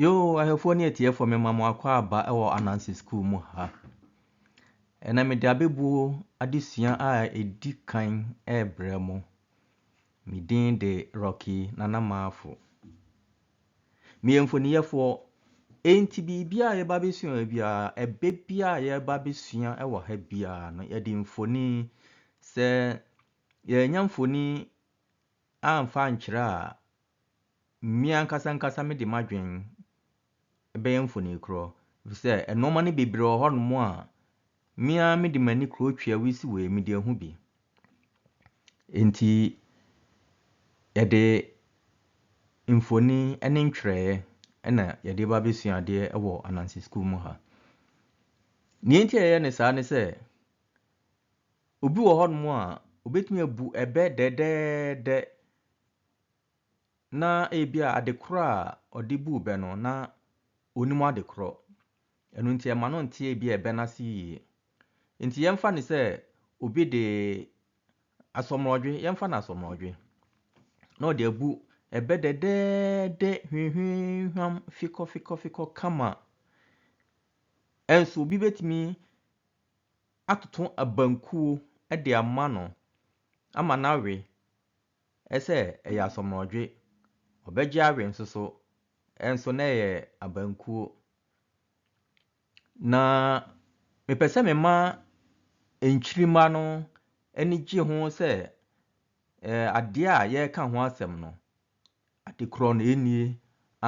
Yoo, ahwɛfoɔ ne atiefoɔ mema mo akɔ aba wɔ Anansi Sukuu mu ha. Ɛnɛ mede abɛbuo adesua a ɛdi kan rebrɛ mo. Me din de Rocky Nana Maafo. Meyɛ mfoniyɛfoɔ. Enti biribiara a yɛba bɛsua biara, ɛbɛ biara a yɛba bɛsua wɔ ha biara no, yɛde mfoni sɛ Yɛannya mfoni amfa ankyerɛ a, me ankasa ankasa mede m'adwene bɛyɛ mfonikorɔ, ɛfiri sɛ nnoɔma no bebree wɔ hɔnom a, me ara mede m'ani korɔ twi a wosi wei a, mede ahu bi. Enti yɛde mfoni ne ntwerɛeɛ na yɛde ba abɛsua adeɛ wɔ Ananse sukuu mu ha. Deɛ nti a yɛyɛ no saa ne sɛ, Obi wɔ hɔnom a, obetumi abu ɛbɛ dɛdɛɛdɛ na ebia adekorɔ a ɔde buu bɛ no, na ɔnim adekorɔ. Ɛno nti ɛma no nte ebia ɛbɛ no ase yie. Nti yɛmfa no sɛ obi de asɔmrɔdwe, yɛmfa no asɔmrɔdwe, na ɔde abu ɛbɛ dɛdɛɛdɛ hwinhwinhwam fikɔfikɔfikɔ kama. Nso obi betumi atoto abankuo de ama no ama no awe sɛ ɛyɛ asɔmnɔdwe, ɔbɛgye awe nso so nso na ɛyɛ abankuo. Na mepɛ sɛ mema nkyirimma no ani gye ho sɛ adeɛ a yɛreka ho asɛm no, Ade korɔ na ɛnnie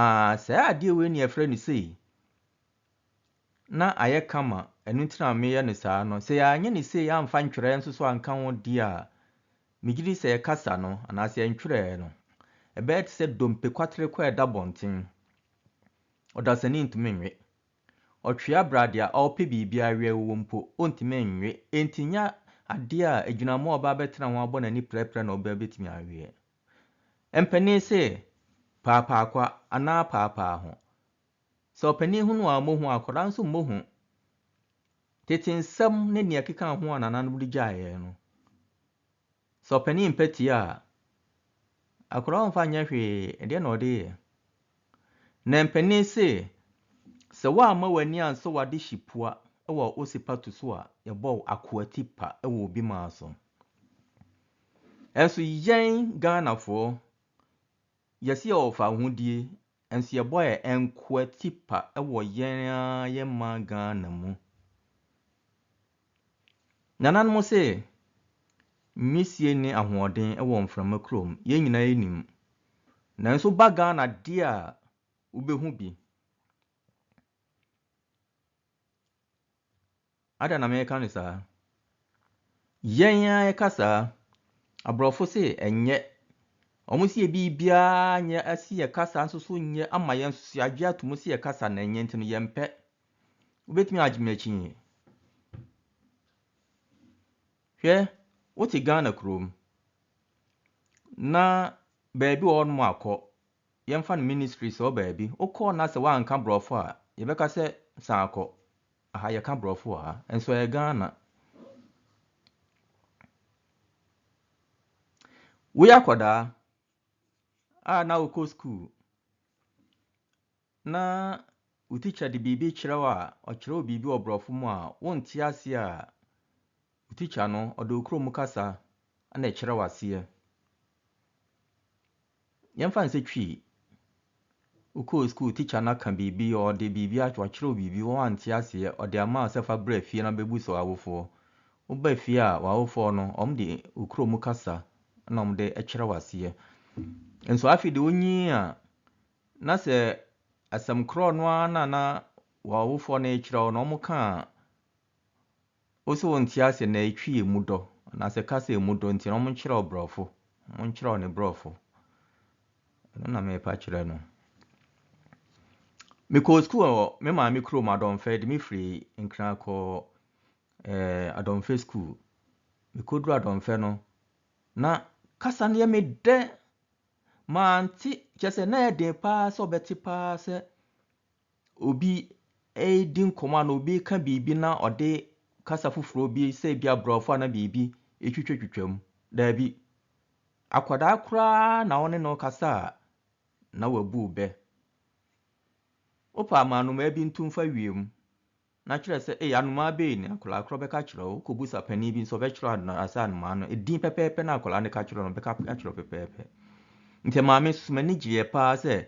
aa saa adeɛ wei na yɛfrɛ no sei na ayɛ kama ɛno nti na meyɛ no saa no sɛ yɛanyɛ no sei amfa ntwerɛɛ nso so anka ho deɛ a megye di sɛ yɛkasa no anaasɛ yɛntwerɛɛ no ɛbɛyɛ te sɛ dompe kwatere kɔ a ɛda bɔnten ɔdasani ntumi nwe ɔtwea brade a ɔpɛ biribi awea wɔ mpo ɔntumi nwe enti nyɛ adeɛ a agyinamoa a ɔbaa bɛtena ho abɔ n'ani prɛprɛ na ɔbaa bɛtumi aweɛ Mpanin se, Paapaakwa anaa paapaaho. Sɛ ɔpanin hu no a, ɔmmɔ hu, akwadaa nso mmɔ hu. Tete nsɛm ne nea ɛkeka ho a nananom de gyae yɛn no, sɛ ɔpanin mpɛ tie a, akwadaa ɔmfa nyɛ hwee, ɛdeɛ na ɔde yɛ. Na mpanin se, sɛ woamma w'ani ansɔ w'ade hye pua wɔ osipa tu so a, yɛbɔ wo akoa ti pa wɔ obi maa so. Nso yɛn Ghanafoɔ, yɛse yɛwɔ fawohodie, nso yɛbɔ yɛn nkoa tipa wɔ yɛn ara yɛn man Ghana mu. Nananom se, nwisie ne ahoɔden wɔ mframa kurom, yɛn nyinaa yɛnim. Nanso woba Ghana deɛ a, wobɛhu bi. Adɛn na meka no saa? Yɛn ara yɛka saa. Aborɔfo se ɛnyɛ. Wɔn se biribiara nyɛ se yɛ kasa nso so nyɛ ama yɛn nso so yɛagye ato mu se yɛ kasa na ɛnyɛ nti no yɛmpɛ. Wobɛtumi agye me akyi? Hwɛ, wote Ghana kurom na baabi wɔ hɔnom akɔ, yɛmfa no ministry sɛ wɔ baabi, wokɔɔ na sɛ woanka borɔfo a, yɛbɛka sɛ san kɔ. Aha yɛka brɔfo wɔ ha nso ɛyɛ Ghana. Woyɛ akwadaa a na wokɔ school na wo teacher de biribi kyerɛ wo a ɔkyerɛ wo biribi wɔ brɔfo mu a wonte aseɛ a Wo tikya no ɔde wo kurom kasa na ɛkyerɛ wo aseɛ. Yɛmfa no sɛ Twi, wokɔɔ sukuu tikya no aka biribi, ɔde biribi akyerɛ, ɔkyerɛ wo biribi woante aseɛ, ɔde ama wo sɛ fa bra fie na bɛbu so awofoɔ. Woba fie a, w'awofoɔ no, wɔde wo kurom kasa na wɔde kyerɛ wo aseɛ. Nso afei deɛ wonyin a, na sɛ asɛm korɔ no ara na na w'awofoɔ no rekyerɛ wo no, wɔka a, Wo so wo nte aseɛ na ɛtwi ɛmu dɔ anaa sɛ ka sɛ ɛmu dɔ nti na ɔmo nkyerɛw brɔfo ɔmo nkyerɛw ne brɔfo ɛno na meepa kyerɛ no mekɔɔ sukuu wɔ me maame kurom adɔmfɛ de me firi nkran kɔɔ eh, adɔmfɛ sukuu mekɔduru adɔmfɛ no na kasa no yɛ me dɛ mante kyɛ sɛ na ɛyɛ den paa sɛ ɔbɛte paa sɛ obi redi nkɔmmɔ anaa obi reka biribi na ɔde kasa foforɔ bi sɛ ebi aborɔfo anaa biribi twitwatwitwa mu. Daabi. Akwadaa koraa na wo ne no rekasa a, na wabu wo bɛ. Wopɛ a, ma anomaa bi ntu mfa wiem. Na kyerɛ sɛ, ee, anomaa bɛn ni? Akwadaa korɔ bɛka akyerɛ wo. Wokɔbisa panin bi nso, ɔbɛkyerɛ wo anomaa, asɛ anomaa no, edin pɛpɛɛpɛ no a akwadaa no ka kyerɛ no, ɔbɛka akyerɛ wo pɛpɛɛpɛ. Nti maame nso, m'ani gyeeɛ pa ara sɛ,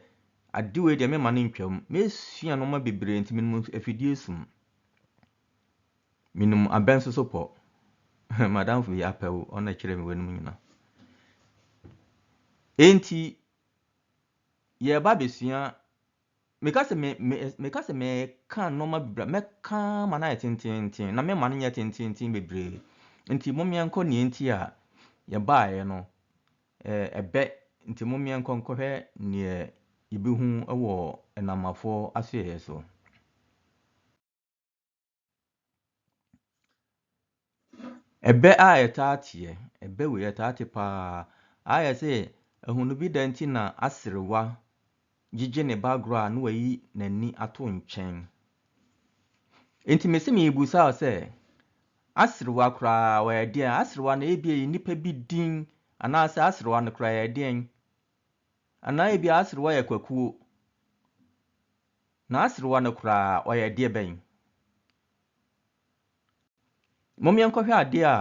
ade wei deɛ, meremma no ntwam. Mɛsua nnoɔma bebree, nti menim afidie som. Menim abɛn sosopɔ. M'adamfo yi apɛ wo, ɔno na ɛkyerɛɛ me weinom nyinaa. Enti, yɛreba abɛsua Meka sɛ me, me, meka sɛ mɛka nnoɔma bebree, mɛka ma no ayɛ tenteenten, na mɛma no nyɛ tenteenten bebree. Nti mommeɛ nkɔ neɛ nti a yɛbaeɛ no, ɛɛ, ɛbɛ, nti mommeɛ nkɔ nkɔhwɛ neɛ yɛbɛhu wɔ nnamafoɔ asoɛeɛ so. Ɛbɛ a ɛtaa teɛ, ɛbɛ wei ɛtaa te pa ara. Ayɛ sɛ ahunu bi da nti na aserewa gyegye ne ba agorɔ a na wayi n'ani ato nkyɛn. Enti me se merebisa wo sɛ, aserewa koraa ɔyɛ deɛn? Aserewa no ebia ɛyɛ nipa bi din anaasɛ aserewa no koraa ɛyɛ deɛn? Anaa ebia aserewa yɛ kwakuo? N'aserewa no koraa, ɔyɛ adeɛ bɛn? Mom yɛnkɔhwɛ adeɛ a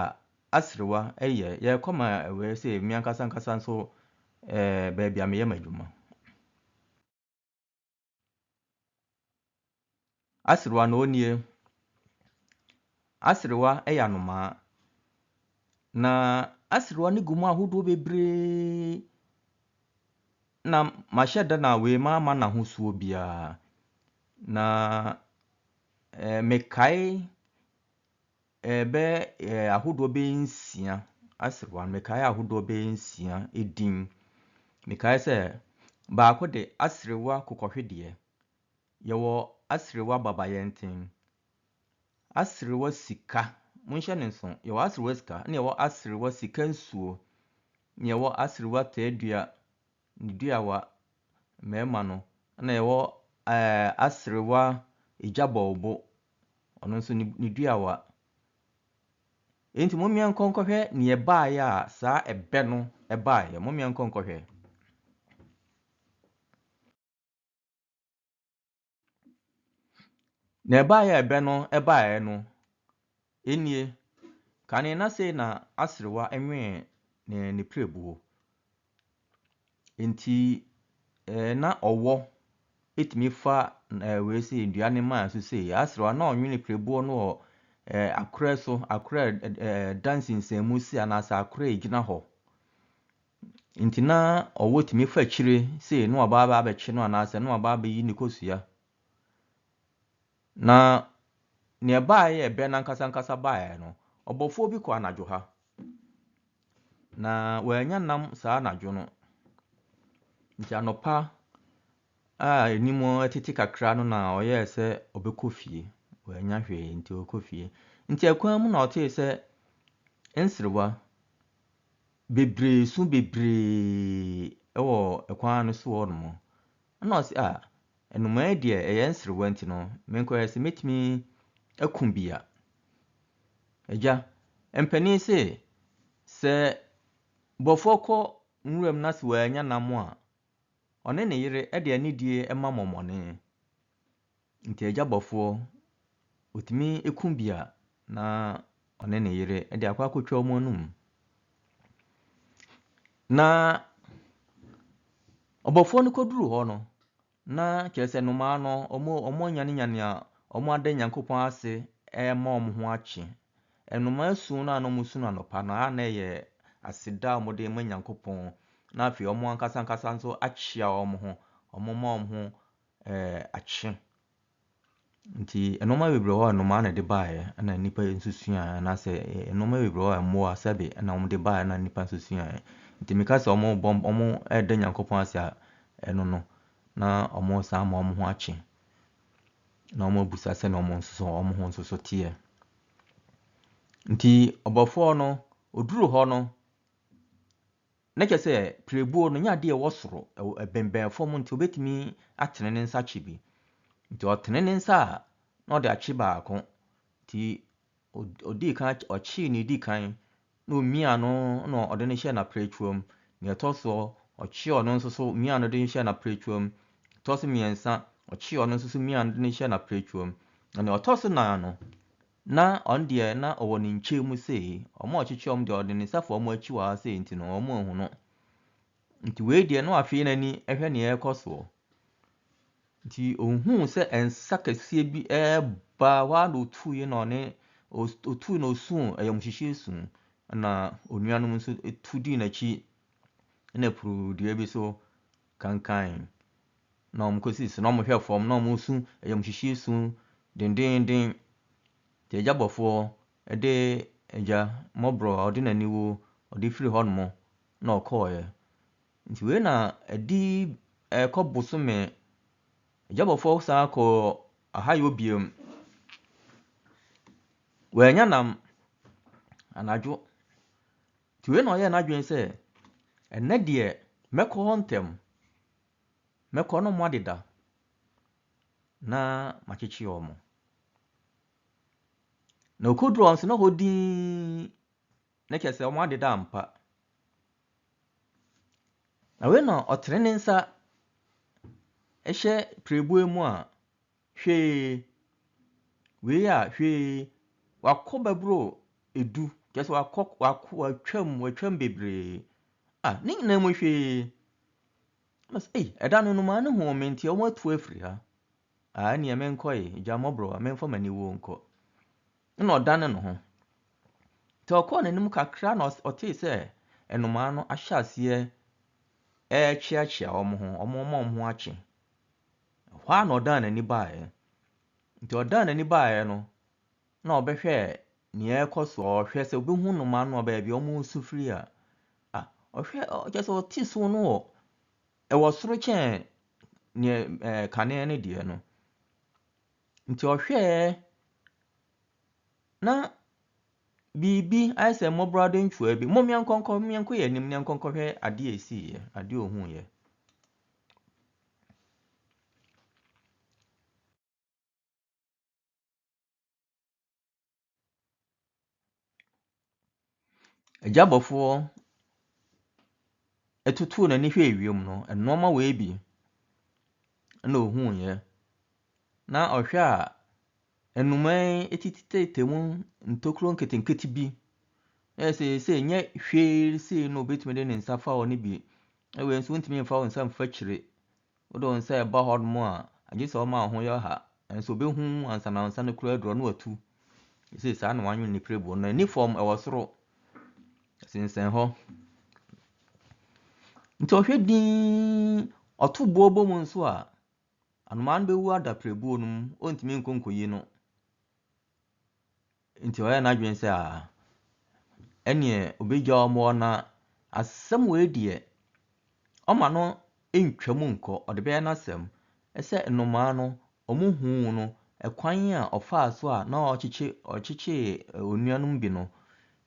aserewa yɛ. Yɛrekɔ ma wei sɛ me ankasa ankasa nso eh, baabi a meyɛ m'adwuma. Aserewa no ɔnie. Aserewa yɛ anomaa. Na aserewa no gu mu ahodoɔ bebree. Na mahyɛ da na wei mamma no ahosuo biara. Na eh, mekae eh, bɛ eh, ahodoɔ bɛyɛ nsia aserewa no, mekae ahodoɔ bɛyɛ nsia edin. Mekae sɛ baako de aserewa kokɔhwedeɛ, yɛwɔ aserewa babayɛnten, Aserewa sika, monhyɛ no nso, yɛwɔ aserewa sika, ɛna yɛwɔ aserewa sika nsuo, ɛna yɛwɔ aserewa tɛɛdua, ne duawa, mmarima no, ɛna yɛwɔ ɛɛ aserewa egya bɔɔbo, ɔno nso ne ne duawa. Enti mommea nkɔ nkɔhwɛ nea ɛbaeɛ a saa ɛbɛ no baeɛ, mommea nkɔ nkɔhwɛ. Na ɛbaeɛ a ɛbɛ no baeɛ no, enie, kane na sei na aserewa nwee ne n'apirebuo. Enti ɛɛ na ɔwɔ tumi fa ɛɛ wei sei nnua no maa so sei. Aserewa na ɔnwe n'apirebuo no wɔ ɛɛ akorɛ so, akorɛ a ɛda nsensanmu si anaasɛ akorɛ a ɛgyina hɔ. Nti na ɔwɔ tumi fa akyire sei na waba aba abɛkye no anaasɛ na waba abɛyi ne kosua. Na nea ɛbaeɛ yɛ bɛn ankasa ankasa baeɛ no, ɔbɔfoɔ bi kɔ anadwo ha, na wɔanya nam saa anadwo no. Nti anɔpa a anim tete kakra no na ɔyɛɛ sɛ ɔbɛkɔ fie, wɔanya hwee nti ɔkɔ fie. Nti ɛkwan mu na ɔtee sɛ nserewa. bebree, su bebree wɔ kwan no so hɔnom. Ɛnna ɔse, Ah, nnomaa yi deɛ, ɛyɛ nserewa nti no, menkɔyɛ sɛ mɛtumi aku bi a. Agya, mpanin se, sɛ bɔfoɔ kɔ nwuram na sɛ wannya nam a, ɔne ne yere de anidie ma mmɔmmɔne. Nti agya bɔfoɔ, ɔtumi ku bi a na ɔne ne yere de akɔ akɔtwa wɔn anum. Na ɔbɔfoɔ no kɔduru hɔ no, na kyerɛ sɛ nnomaa no, wɔn wɔanyanenyane a wɔn ada Nyankopɔn ase rema wɔn ho akye. Nnomaa su no a na wɔsu no anɔpa no, a na ɛyɛ aseda a wɔde rema Nyankopɔn, na afei wɔn ankasa ankasa nso akyea wɔn ho, wɔma wɔn ho ɛɛ akye. Nti nnoɔma bebree wɔ hɔ a nnomaa na ɛde baeɛ ɛna nnipa nso suaeɛ anaasɛ nnoɔma bebree wɔ hɔ a mmoa sɛdeɛ ɛna wɔde baeɛ ɛna nnipa nso suaeɛ. Nti meka sɛ wɔrebɔ wɔreda Nyankopɔn ase a, ɛno no na wɔresan ama wɔn ho akye, na wɔabisa sɛdeɛ wɔn nso so wɔn ho nso so teɛ. Nti ɔbɔfoɔ no, ɔduruu hɔ no, Na kyerɛ sɛ, pirebuo no, ɛnyɛ adeɛ a ɛwɔ soro, ɛbɛnbɛn fam nti ɔbɛtumi atene ne nsa akye bi. Nti ɔtene ne nsa a, na ɔde akye baako. Nti ɔdii kan, ɔkyee nea ɛdi kan, na ɔmiaa no na ɔde no hyɛɛ n'apiratwa mu. Nea ɛtɔ soɔ, ɔkyee ɔno nso so miaa no de no hyɛɛ n'apiratwa mu. Ɛtɔ so mmiɛnsa, ɔkyee ɔno nso so miaa no de no hyɛɛ n'apiratwa mu. Na nea ɔtɔ so nan no, Na ɔno deɛ na ɔwɔ ne nkyɛn mu sei, wɔn a wɔkyekyɛ wɔn deɛ ɔde ne nsa fa wɔn akyi wɔ ha sei nti no wɔn anhu no. Nti wei deɛ na wahwee n'ani hwɛ nea ɛrekɔ soɔ. Nti ɔhuu sɛ nsa kɛseɛ bi reba hɔ ara na ɔtuiɛ na ɔne ɔtui na ɔsuu ayamuhyehyeɛ su na onuanom nso tu dii n'akyi na puruu dua bi so kankan na wɔn kɔsi so na wɔn hwɛ fam na wɔn su ayamhyehyeɛ su dendeenden deɛ agya bɔfoɔ de agya mmɔborɔ a ɔde n'aniwuo ɔde firi hɔ nom na ɔkɔɔɛ nti wei na ɛdi ɛkɔ bosome agya bɔfoɔ saa kɔ ahayɔ biam wɔanya nam anadwo Nti wei na ɔyɛɛ n'adwene sɛ, Ɛnnɛ deɛ, mɛkɔ hɔ ntɛm. Mɛkɔ no mmoadeda na makyekye wɔn. Na ɔkɔduruu hɔ nso, na hɔ dinn, na kyerɛ sɛ wɔadeda ampa. Na wei na ɔtene ne nsa hyɛ pirebuo mu a Hwee, wei a hwee, wakɔ bɛboro du, kyerɛ sɛ wakɔ, wakɔ, watwam, watwam bebree. A, ne nyinaa mu hwee. Ɛna sɛ, ei, ɛda no nnomaa no huu me nti wɔatu afiri ha. A, ɛneɛ menkɔ ye, gya mmɔborɔ a, memfa m'ani wuo nkɔ. Ɛna ɔdane ne ho. Nti ɔkɔɔ n'anim kakra na ɔtee sɛ nnomaa no ahyɛ aseɛ ɛrekyeakyea wɔn ho, wɔn ama wɔn ho akye. Ɛhɔ ara na ɔdan n'ani baeɛ. Nti ɔdan n'ani baeɛ no, na ɔbɛhwɛ deɛ ɛrekɔ so, ɔrehwɛ sɛ ɔbɛhu nnomaa no wɔ baabi a wɔresu firi a. Ah, ɔhwɛ, kyerɛ sɛ ɔte su no wɔ, ɛwɔ soro kyɛn deɛ ɛɛ kane no deɛ no. Nti ɔhwɛɛ, na biribi ayɛ sɛ mmɔborɔwa dɔnhwereɛ bi. Mommeɛ nkɔnkɔ, mommeɛ nkɔ yɛn anim na yɛnkɔ nkɔhwɛ adeɛ a ɛsiiɛ, adeɛ a ɔhuiɛ. Agya bɔfoɔ tutuu n'ani hwɛɛ wiem no, nnoɔma wei bi na ɔhuiɛ. Na ɔhwɛ a, nnomaa yi atititititititi mu ntokuro nketenkete bi. Ayɛ sɛ seesei nyɛ hwee seesei na ɔbɛtumi de ne nsa afa hɔ no bi Na wei nso wontumi mfa wo nsa mfa kyire. Wode wo nsa ɛba hɔ nom a, agye sɛ ɔma wo ho yɛ ɔha. Nanso ɔbɛhu ansa na wo nsa no kura aduro no watu. Ɛsei saa na wanwene ne pirebuo no. Ɛni fam, ɛwɔ soro. Ɛsensɛn hɔ. Nti ɔhwɛ dinn, ɔto boɔ bɔ mu nso a, anomaa no bɛwu ada pirebuo no mu. Ɔntumi nkɔ nkɔyi no. Enti ɔyɛɛ n'adwene sɛ, Aa, ɛnneɛ ɔbɛgya wɔn hɔ na asɛm wei deɛ, ɔmma no ntwam nkɔ, ɔde bɛyɛ n'asɛm sɛ nnomaa no, wɔhuu no kwan a ɔfaa so a na ɔkyekye, ɔkyekyee onua no mu bi no.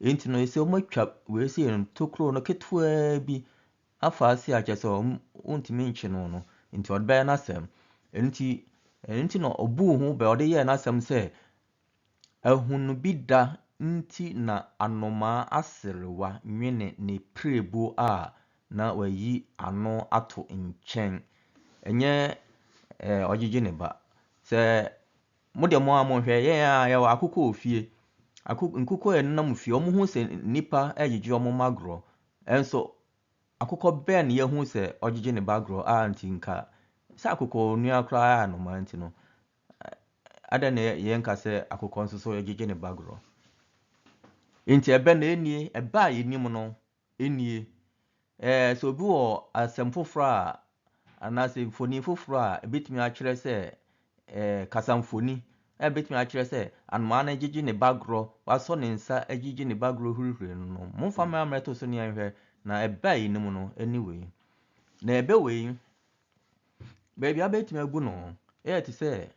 Enti no, sɛ wɔatwa wei sei no, tokuro no ketewaa bi afa ase a kyerɛ sɛ wɔntumi nkye no no, enti ɔde bɛyɛ n'asɛm. Ɛno nti, ɛno nti na ɔbuu ho bɛ, ɔde yɛɛ n'asɛm sɛ Ahunu bi da nti na anomaa aserewa nwene ne pirebuo a na wayi ano ato nkyɛn. Ɛnyɛ ɛɛ ɔgyegye ne ba. Sɛ mo deɛ mo ara monhwɛ, yɛn ara yɛwɔ akokɔ wɔ fie. Ako nkokɔ a ɛnenam fie, wɔhu sɛ nnipa regyegye wɔn mma agorɔ. Nanso akokɔ bɛn na yɛahu sɛ ɔgyegye ne ba agorɔ a nti nka sɛ akokɔnua koraa yɛ anomaa nti no, Adɛn na yɛnka sɛ akokɔ nso so gyegye ne ba gorɔ? Enti ɛbɛ na ɛnnie, ɛbɛ a yɛnim no nnie. Ɛɛ sɛ obi wɔ asɛm foforɔ a anaasɛ mfoni foforɔ a ɛbɛtumi akyerɛ sɛ ɛɛ kasamfoni a ɛbɛtumi akyerɛ sɛ anomaa no gyegye ne ba gorɔ, wasɔ ne nsa gyegye ne ba gorɔ hurihuri no no, momfa mmra mmɛto so ne yɛnhwɛ na ɛbɛ a yɛnim no ne wei. Na ɛbɛ wei Baabi a wobɛtumi agu no yɛ te sɛ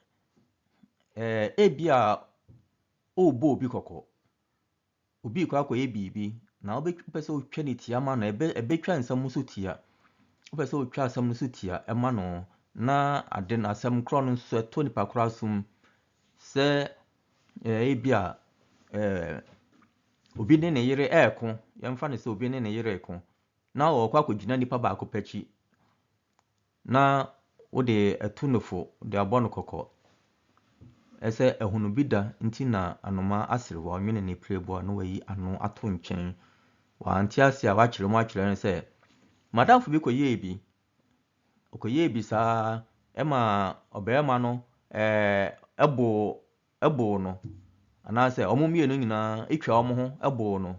ɛɛ ebia worebɔ obi kɔkɔ. Obi rekɔ akɔyɛ biribi, na wobɛ wopɛ sɛ wotwa no tia ma no, ɛbɛ ɛbɛtwa nsɛm no so tia. Wopɛ sɛ wotwa asɛm no so tia ma no na ade no asɛm korɔ no nso ɛtɔ nipa korɔ asom sɛ ɛɛ ebia ɛɛ obi ne ne yere reko, yɛmfa no sɛ obi ne ne yere reko. na ɔkɔ akɔgyina nipa baako pɛ akyi na wode atu no fo de abɔ no kɔkɔ sɛ ahunu bi da nti na anomaa asere hɔ, ɔnwene ne prɛboɔ na wayi ano ato nkyɛn. Wante ase a wakyerɛ mu akyerɛ no sɛ madamfo bi kɔyɛɛ bi, ɔkɔyɛɛ bi saa ɛma ɔbarima no ɛɛ boo ɛboo no anaasɛ wɔn mmienu nyinaa atwa wɔn ho boo no.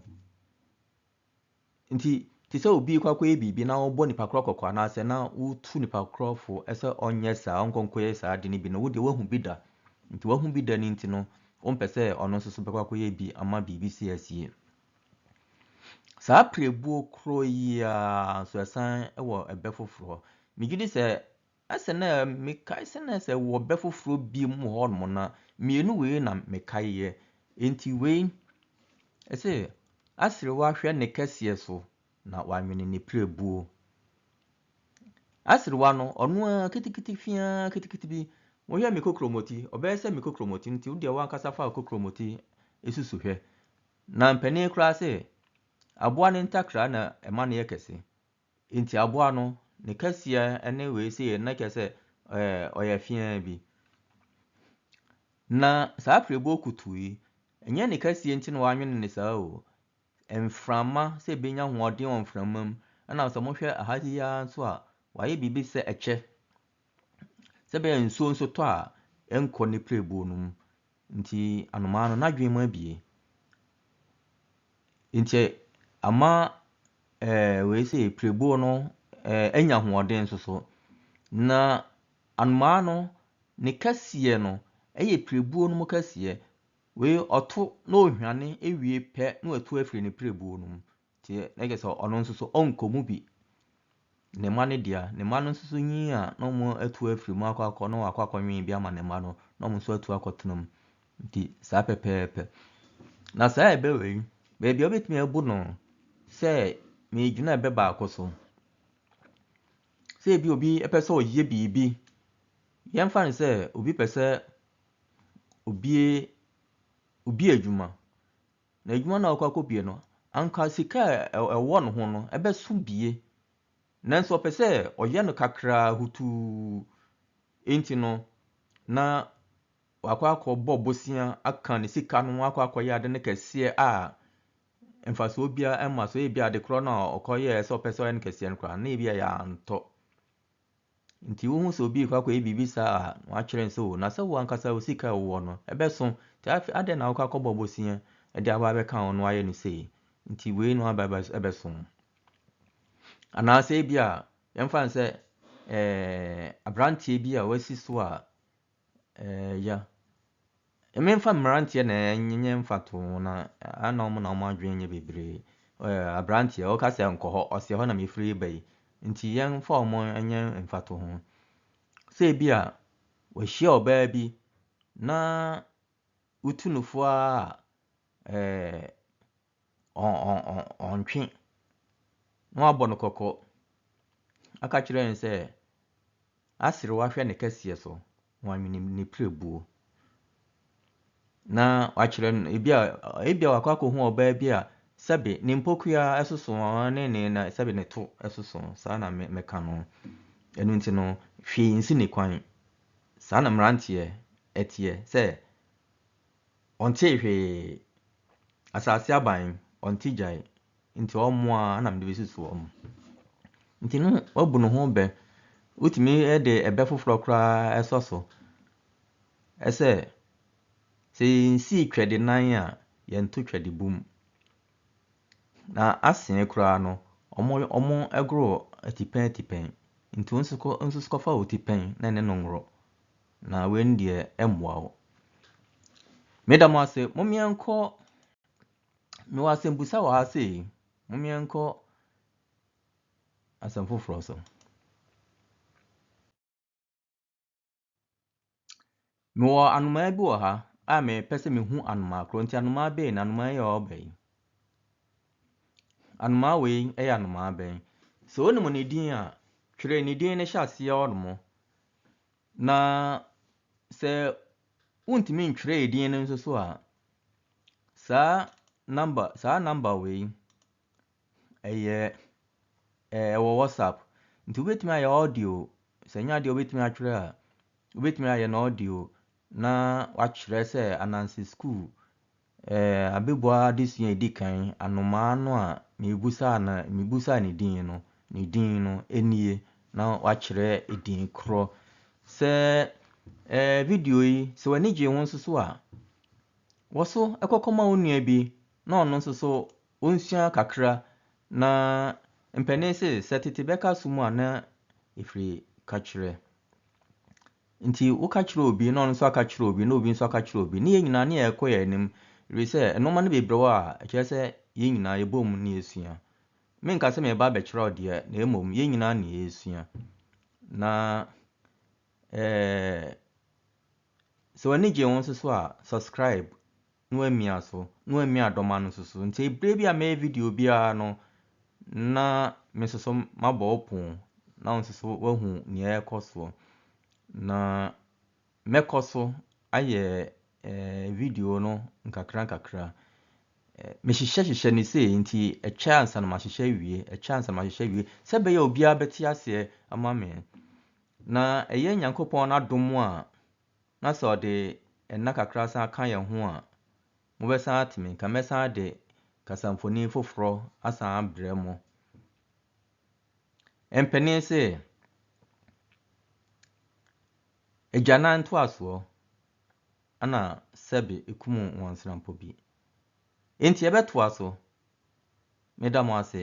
Enti, te sɛ obi rekɔ akɔyɛ biribi na wobɔ nipa korɔ kɔkɔ anaasɛ na wotu nipa korɔ fo sɛ ɔnyɛ saa, ɔnkɔ nkɔyɛ saa ade no bi no, wo deɛ woahu bi da. Nti woahu bi da no nti no, wompɛ sɛ ɔno nso so bɛkɔ akɔyɛ bi ama biribi si asie. Saa pirebuo korɔ yi ara nso ɛsan wɔ ɛbɛ foforɔ. Megye di sɛ Na sɛ na mekae sɛ na sɛ wɔ bɛ foforɔ bi mu wɔ hɔ nom no a, mmienu wei na mekaeɛ. Enti wei, ɛse, Aserewa hwɛ ne kɛseɛ so na wanwene ne pirebuo. Aserewa no, ɔno ara kitikiti fiaa kitikiti bi, wohwɛ me kokromoti, ɔbɛyɛ sɛ me kokromoti, nti wodeɛ wankasa fa wo kokromoti susu hwɛ. Na mpanin koraa se, aboa ne ntakra na ɛma no yɛ kɛse. Enti aboa no, ne kɛseɛ ne wei sei, na kyerɛ sɛ ɔyɛ fee ara bi. Na saa apirebuo kutu yi, ɛnyɛ ne kɛseɛ nti na wɔanwene no saa o. Mframa sɛ ɛbɛnya ahoɔden wɔ mframa mu, ɛnna sɛ mohwɛ ha yi ara nso a, wɔayɛ biribi te sɛ ɛkyɛ. sɛ ɛbɛyɛ a nsuo nso tɔ a ɛnkɔ ne pirebuo no mu. Nti anomaa no n'adwene mu abue. Nti ama ɛɛ wei sei pirebuo no anya ahoɔden nso so. Na anomaa no ne kɛseɛ no yɛ pirebuo no mu kɛseɛ. Wei ɔto na ɔhwane wie pɛ na watu afiri ne pirebuo no mu. Nti na kyerɛ sɛ ɔno nso so ɔnkɔ mu bi. Ne mma no dea, ne mma no nso so nyin a na wɔatu afiri mu akɔ akɔ na wɔakɔ akɔnwen bi ama ne mma no na wɔn nso atu akɔtena mu. Nti saa pɛpɛɛpɛ. Na saa a ɛbɛ wei, baabi a wobɛtumi abu no sɛ megyina ɛbɛ baako so. Sɛ ebi obi pɛ sɛ ɔyɛ biribi, yɛmfa no sɛ obi pɛ sɛ obue obi adwuma Na edwuma no a ɔkɔ akɔ bue no, anka sika a ɛwɔ no ho no ɛbɛso bie, nanso ɔpɛ sɛ ɔyɛ no kakraa hutuu, enti no na wakɔ akɔ bɔ bosea aka ne sika no ho akɔ akɔ yɛ ade no kɛseɛ a mfasoɔ biara ɛmma so, ebi adekorɔ no a ɔkɔ yɛɛ sɛ ɔpɛ sɛ ɔyɛ no kɛseɛ no koraa na ebi a yɛantɔ. Nti wohu sɛ obi rekɔ akɔyɛ biribi saa a, wɔatwerɛ nso o, na sɛ wo ankasa wo sika a wowɔ no, ɛbɛso. Nti afei adɛn na wokɔ akɔbɔ bosea de aba abɛka a ɔno ayɛ no sei? Nti wei na aba ɛbɛso. Anaasɛ ebia yɛmfa no sɛ ɛɛ aberanteɛ bi a wasi so a, Ɛɛ, ya. Memfa mmeranteɛ na ɛnyɛ mfatoho na a na wɔn na wɔn adwene nyɛ bebree. Ɛɛ, aberanteɛ, ɔka sɛ nkɔ hɔ, ɔsɛ hɔ na mefiri reba yi. Nti yɛmfa wɔn nyɛ mfatoho. Sɛ ebi a, wahyia ɔbaa bi na wotu no fo ara a, ɛɛ, ɔntwe na wabɔ no kɔkɔ aka akyerɛ no sɛ aserew ahwɛ ne kɛseɛ so na wanwene ne pirebuo. Na wakyerɛ no ebi a ebi a wakɔ akɔhu ɔbaa bi a sɛbe ne mpokua soso ne ne na sɛbe ne to soso saa na meka no. Ɛno nti no hwee nsi ne kwan. Saa na mmeranteɛ ɛteɛ sɛ Ɔntee hwee. Asase aban, ɔnte gyae. Nti wɔn a na mede bɛsusu wɔn. Nti no wabu ne ho bɛ. Wotumi de ɛbɛ foforɔ koraa sɔ so sɛ, sɛ yɛnsii twɛde nan a, yɛnto twɛde bum. Na asee koraa no, wɔgoro atipɛn atipɛn. Nti wo nso kɔfa wo tipɛn na ɛne no ngoro. Na wei no deɛ ɛmmoa wo. Meda mo ase, mom yɛnkɔ, mewɔ asɛmbusa wɔ ha sei, mom yɛnkɔ asɛm foforɔ so. Mewɔ anomaa bi wɔ ha a mepɛ sɛ mehu anomaa korɔ, nti anomaa bɛn na anomaa yi a ɔba yi? Anomaa wei yɛ anomaa bɛn? Sɛ wonim ne din a, twerɛ ne din no hyɛ aseɛ hɔ nom. Na sɛ wontumi ntwerɛ edin no nso so a, saa number saa number wei ɛyɛ eh, ɛwɔ WhatsApp. Nti wobɛtumi ayɛ audio. Sɛ nyɛ adeɛ wobɛtumi atwerɛ a, wobɛtumi ayɛ no audio na wakyerɛ sɛ Ananse School Ɛɛ, abɛbua adesua a ɛdi kan, anomaa no a mebusaa no, mebusaa ne din no, ne din no nie, na wakyerɛ edin korɔ. Sɛ ɛɛ video yi, sɛ w'ani gyee ho nso so a, wɔ so kɔkɔma wo nua bi na ɔno nso so ɔnsua kakra na mpanin se, sɛ tete bɛka so mu a na ɛfiri ka kyerɛ. Nti woka kyerɛ obi na ɔno nso aka kyerɛ obi na obi nso aka kyerɛ obi ne yɛn nyinaa ne yɛkɔ yɛn anim ɛfiri sɛ nnoɔma no bebree wɔ a ɛkyerɛ sɛ yɛn nyinaa yɛbɔ mu na yɛsua. Menka sɛ mereba abɛkyerɛ wo deɛ na mmom yɛn nyinaa na yɛresua. Na eh, sɛ w'ani gye wo nso so a subscribe. na wamia so, na wamia dɔm ano nso so. Nti berɛ bi a mɛyɛ video biara no, na me nso so mabɔ wo pon, na wo nso so woahu nea ɛrekɔ soɔ. Na mɛkɔ so ayɛ eh, video no nkakra nkakra. Eh, mehyehyɛ hyehyɛ no sei, nti ɛkyɛ ansa na mahyehyɛ awie, ɛkyɛ ansa na mahyehyɛ awie, sɛ ɛbɛyɛ obiara bɛte aseɛ ama me. Na ɛyɛ Nyankopɔn n'adom a na sɛ ɔde nna kakra san ka yɛn ho a, mobɛsan ate me nka. Mɛsan de kasamfonin foforɔ asan abrɛ mo. Mpanin se, Agyanan ntoasoɔ na sɛbe kum nwansrampɔ bi. Enti yɛbɛtoa so. Meda mo ase.